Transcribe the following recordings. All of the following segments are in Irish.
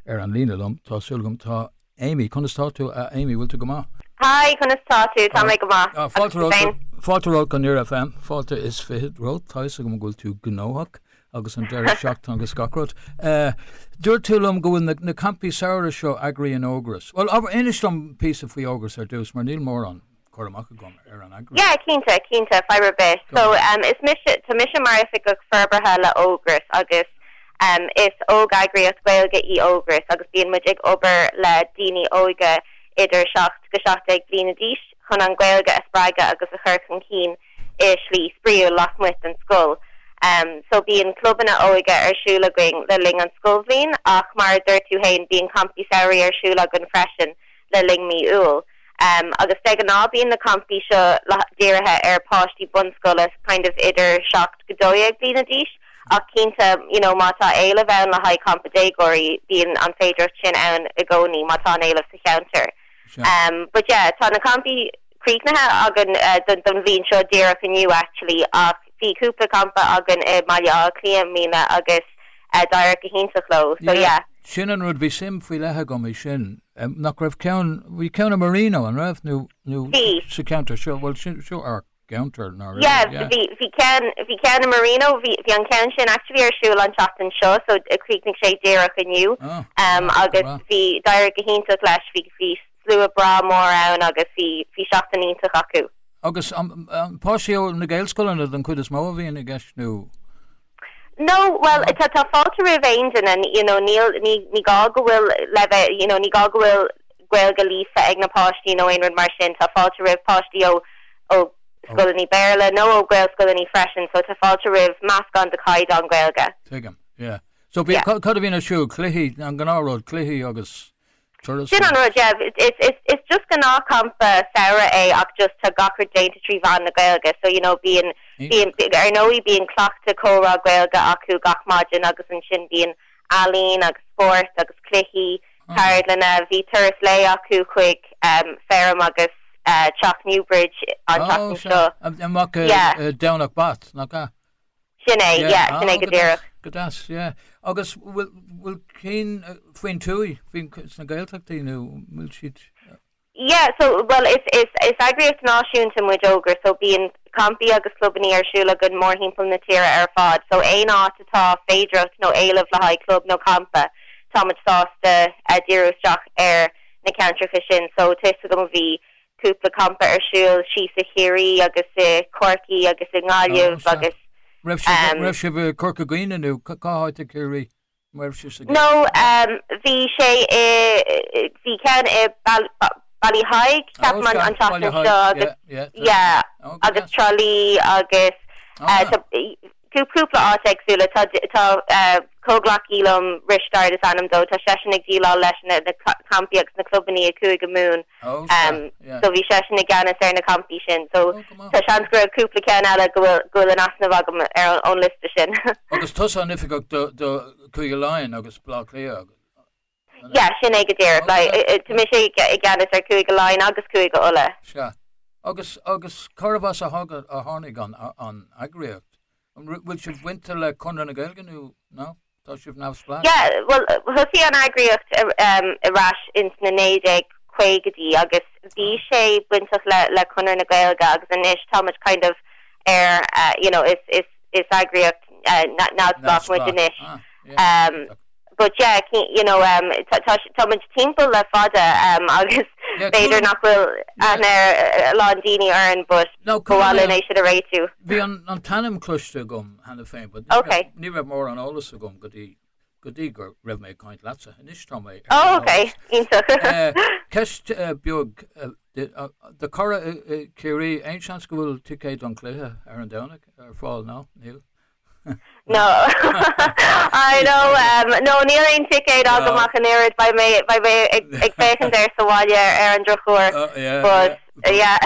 Ar an líne liom, tá súil agam, tá Amy. Conas tá tú a Amy, bhfuil tú go maith? Hi, conas tá tú? Tá go maith. Fáilte romhat. Fáilte romhat go dtí Near FM. Fáilte is fiche romhat. Tá fhios agam go bhfuil tú gnóthach agus an deireadh seachtaine agus gach rud. Eh, dúirt tú liom go bhfuil na campaí samhraidh seo eagraíonn Ógras. Bhuel, ah inis liom píosa faoi Ógras ar dtús mar níl mórán cur amach agam ar an eagras. Yeah, cinnte, cinnte, fadhb ar bith. Go maith. So, em, is mise, tá mise mar Oifigeach Forbartha le Ógras agus, em, is óg-eagraíocht Ghaeilge í Ógras agus bíonn muid ag obair le daoine óga idir 7-17 bliana d'aois chun an Ghaeilge a spreagadh agus a chur chun cinn i slí spraíúil lasmuigh den scoil. Em, so bíonn clubanna óige ar siúl againn le linn an scoilbhliain ach mar a dúirt tú fhéin, bíonn campaí samhraidh ar siúl againn freisin, le linn mí Iúil agus de ghnáth bíonn na campaí seo dírithe ar páistí bunscoile kind of idir 7-12 bliana d'aois ach cinnte you know má tá éileamh ann le haghaidh campa déagóirí bíonn an féidireacht sin ann i gcónaí má tá an éileamh sa cheantar but yeah tá na campaí críochnaithe againn don bhliain seo díreach inniu actually ach bhí cúpla campa againn i mBaile Átha Cliath i mbliana agus d'éirigh go hiontach leo so yeah. Sin an rud, bhí suim faoi leith agam i sin. Um, nach raibh ceann, bhí ceann i Marino, an raibh? Nó, nó Bhí. sa ceantar seo, bhfuil sin, seo ár gceantar, nach raibh, Yeah, yeah. bhí, bhí ceann, bhí ceann i Marino, bhí, bhí an ceann sin actually ar siúl an tseachtain seo, so chríochnaigh sé díreach inniu. Oh, Um, breá, breá. agus bhí, d'éirigh go hiontach leis, bhí, bhí slua breá mór ann agus bhí, bhí seachtain iontach acu. Agus, um, um, páistí ó na Gaelscoileanna don chuid is mó a bhíonn i gceist, nó? No, bhuel, tá, tá fáilte roimh aon duine, you know, níl, ní, ní gá go bhfuil leibhéal, you know, ní gá go bhfuil Gaeilge líofa ag na páistí nó aon rud mar sin, tá fáilte roimh páistí ó, ó scoileanna Béarla nó ó Ghaelscoileanna freisin, so tá fáilte roimh meascán de chaighdeán Gaeilge. Ó, tuigim, yeah. So bhí, Yeah. cad, cad a bhíonn ar siúl? Cluichí, an gnáth rud, cluichí agus... Turas Sin an rud, yeah. Is, is, it's just gnáth campa samhraidh é ach just tá gach rud déanta trí mheán na Gaeilge so you know bíonn bíonn ar ndóigh bíonn cleachtadh comhrá Gaeilge acu gach maidin agus ansin bíonn ealaín agus spórt agus cluichí, ceardlanna. Bhí turas lae acu chuig ehm feirm agus eh teach Newbridge an tseachtain seo. Yeah. Domhnach Bat, nach ea? Sin é, yeah, yeah, sin é go díreach. Go deas, yeah. Agus bhfuil bhfuil cinn faoin tuath, faoi na Gaeltachtaí nó bhfuil siad Yeah, so well is is is eagraíocht náisiúnta muid Ógras, so bíonn campaí agus clubanna ar siúl againn mórthimpeall na tíre ar fad, so aon áit atá féidearthacht nó éileamh le haghaidh club nó campa, tá muid sásta díriú isteach ar na ceantracha sin. So tá fhios agam bhí cúpla campa ar siúl thíos i gCiarraí agus i gCorcaigh agus i nGaillimh agus. raibh sibh i Corca Dhuibhne nó cá háit i Ciarraí a raibh sibh sa gcampa? No, bhí sé i, bhí ceann i Ballyheigue ceapaim an tseachtain seo agus yeah agus Trá Lí agus. cúpla áit éagsúla. Tá comhghleacaí liom, Risteárd is ainm dó, tá seisean ag déileáil leis na campaí agus na clubannaí i gCúige Mumhan so bhí seisean i gceannas ar na campaí sin so tá seans go raibh cúpla ceann eile go bhfuil in easnamh agam ón liosta sin. Agus tusa an oifigeach do Cúige Laighean agus Baile Átha Cliath? Yeah, sin é go díreach. Tá mise i gceannas ar Chúige Laighean agus Chúige Uladh. Sea. Agus cárb as a tháinig an eagraíocht? An bhfuil sibh bainte le Conradh na Gaeilge nó tá sibh neamhspleách? Yeah, bhuel, thosaigh an eagraíocht ar ais ins na 1950idí agus bhí sé bainteach le Conradh na Gaeilge agus anois tá muid kind of ar, you know, is eagraíocht neamhspleách muid anois. Sea. But yeah, you know, um, tá, tá, tá muid timpeall le fada, um, agus b'fhéidir nach bhfuil aithne ag a lán daoine orainn, but ba mhaith linn é sin a réitiú. bhí an, an t-ainm cloiste agam cheana féin, but ní raibh, Okay. ní raibh mórán eolas agam go dtí, go dtí go raibh mé ag caint leatsa. Anois tá mé ar an eolas. Oh, okay, iontach. Eh, ceist eh, beag, eh, de, eh, do cara i, i Ciarraí, aon seans go bhfuil ticéid don chluiche ar an Domhnach ar fáil, nó níl? No, níl aon ticéad agam ach an oiread, beidh mé ag féachaint air sa bhaile ar an drochuair but yeah.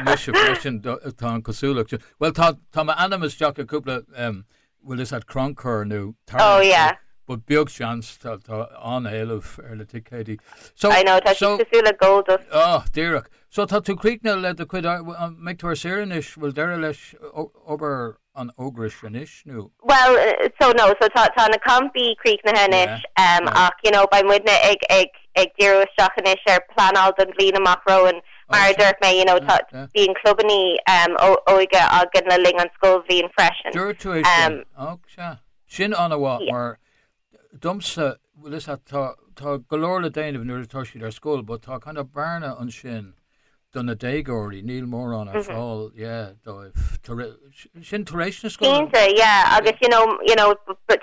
Mise freisin tá an cosúlacht sin, bhuel tá tá m'ainm isteach i gcúpla em bhuel is ag crannchur nó tarraingt but beag seans tá tá an-éileamh ar na ticéidí. So I know tá siad cosúil le gold dust. Oh díreach. So tá tú críochnaithe le do chuid, mbeidh tú ar saoire anois, bhfuil deireadh leis an Ógras anois nó? Bhuel, so, no, so tá na campaí críochnaithe anois ach you know beidh muidne ag díriú isteach anois ar pleanáil don bhliain amach romhainn. Mar a dúirt mé, you know tá, bíonn clubannaí óige againn le linn an scoilbhliain freisin. Dúirt tú é sin, sin an-mhaith mar domsa, bhuel is ea, tá, tá go leor le déanamh nuair atá siad ar scoil but tá kind of bearna ansin do na déagóirí, níl mórán ar fáil, yeah, dóibh tar éis, sin tar éis na scoile. Cinnte, yeah, agus you know, you know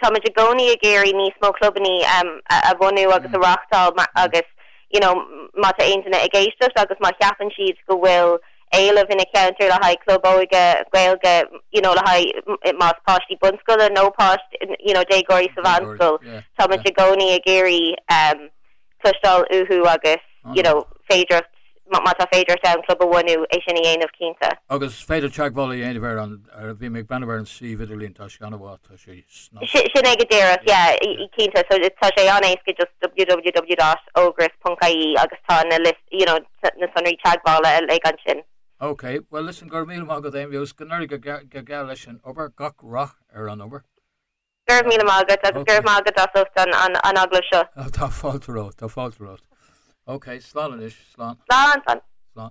táimid i gcónaí ag iarraidh níos mó clubannaí ehm a bhunú agus a reáchtáil mar, agus you know má tá aon duine ag éisteacht agus má cheapann siad go bhfuil, éileamh ina cheantar le haghaidh club óige Gaeilge you know le haghaidh más páistí bunscoile nó páistí you know déagóirí sa mheánscoil tá muid i gcónaí ag iarraidh cloisteáil uathu agus you know féidearthacht má tá féidearthacht ann club a bhunú é sin a dhéanamh cinnte. Agus féidir teagmháil a dhéanamh ar an ar bhí mé ag breathnú ar an suíomh idirlín tá sé an-mhaith tá sé sna. Sin é go díreach yeah cinnte so tá sé an-éasca just www dot ogras dot ie agus tá na list you know. na sonraí teagmhála uilig ansin. OK, bhuel listen, go raibh míle maith agat Aonghus, go n-éirí go geal leis an obair, gach rath ar an obair. Go raibh míle maith agat agus go raibh maith agat as ucht an agallamh seo. Tá fáilte romhat, tá fáilte romhat. OK, slán anois, slán. Slán, slán. Slán.